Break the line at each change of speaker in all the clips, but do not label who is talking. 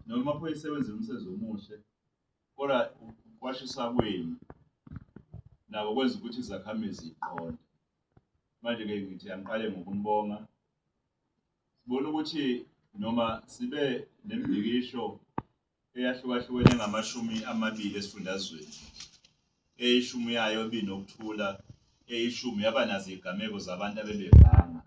noma amaphoyisa ewenze umsebenzi omuhle kodwa kwashisa kwenu nabo kwenza ukuthi izakhamizi ziqonde manje-ke ngithi angiqale ngokunibonga sibona ukuthi noma sibe nembikisho eyahlukahlukene ngamashumi amabili esifundazweni eyishumi yayo ibinokuthula eyishumi yaba nazo izigameko zabantu abebevanga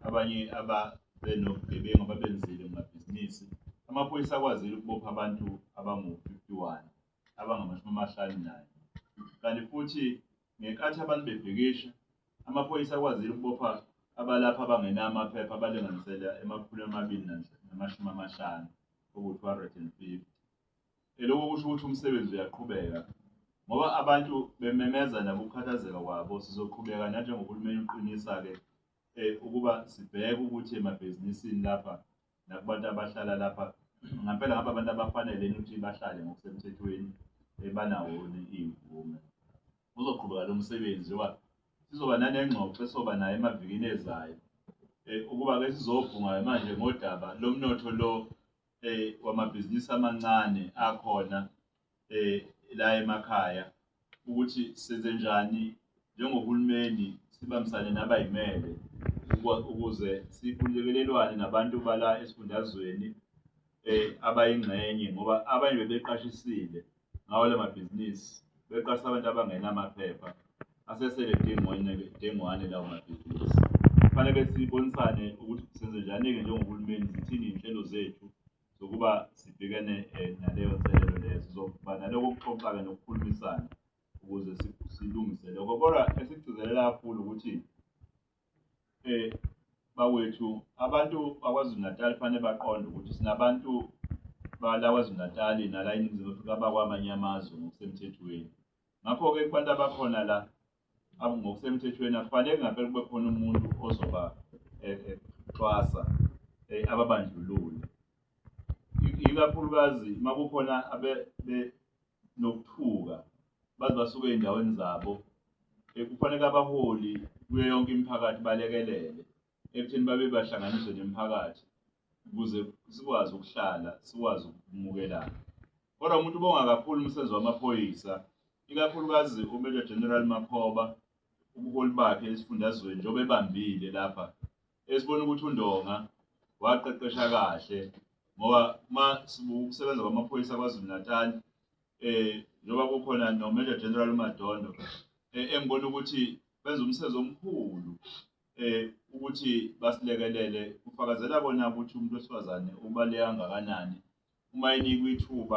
abanye ababenobugebengu ababenzile kumabhizinisi amaphoyisa akwazile ukubopha abantu abangu-51 abangamashumi amahlanu nayo kanti futhi ngenkathi abantu bebhikisha amaphoyisa akwazile ukubopha abalapha abangenayo amaphepha abalinganisela emakhulu amabili namashumi amahlanu oku-250 Lokho kusho ukuthi umsebenzi uyaqhubeka. Ngoba abantu bememeza nabokukhathazeka kwabo, sizoqhubeka nanjengohulumeni uqinisa-ke um ukuba sibheke ukuthi emabhizinisini lapha nakubantu abahlala lapha ngampela ngaba abantu abafanele ukuthi bahlale ngokusemthethweni um banawoni iy'mvume. Uzoqhubeka lo msebenzi njengoba sizoba nanengxoxo esoba nayo emavikini ezayo um ukuba-ke sizobhunga-ke manje ngodaba lomnotho lo eh wamabhizinisi amancane akhona eh la emakhaya ukuthi senze njani njengohulumeni sibambisane nabayimele ukuze sikhululekelelwane nabantu bala esifundazweni eh abayingxenye ngoba abanye bebeqashisile ngawo la mabhizinisi beqasha abantu abangenamaphepha asesele dengwane lawo mabhizinisi. Kufanele sibonisane ukuthi senze njani-ke njengohulumeni, zithini iy'nhlelo zethu zokuba sibhekane um naleyo nselelo leyo. Sizoba naloko kuxoxa-ke nokukhulumisana ukuze silungise lokho. Kodwa esikugcizelela kakhulu ukuthi Eh bakwethu abantu bakwaZulu Natal fanele baqonde ukuthi sinabantu bala kwaZulu Natal nala iningizimu Afrika abakwamanye amazwe ngokusemthethweni ngakho-ke kubantu abakhona la ngokusemthethweni akufanele ngampela kube khona umuntu ozoba eh, eh, xwasa eh, ababandlulule ikakhulukazi uma kukhona nokuthuka baze basuke ezindaweni zabo kufanele abaholi kuyo yonke imiphakathi balekelele ekutheni babe bahlanganiswe nemiphakathi ukuze sikwazi ukuhlala sikwazi ukumukelana kodwa umuntu ubonga kakhulu umsebenzi wamaphoyisa ikakhulukazi uMajor General Makhoba ubuholi bakhe esifundazweni njengoba ebambile lapha esibona ukuthi uNdonga waqeqesha kahle ngoba uma sibuka ukusebenza kwamaphoyisa KwaZulu-Natal eh njengoba kukhona noMajor General uMadondo eh, engibona ukuthi benza umsebenzi omkhulu eh ukuthi basilekelele kufakazela kona ukuthi umuntu wesifazane ubaleka kangakanani uma enikwa ithuba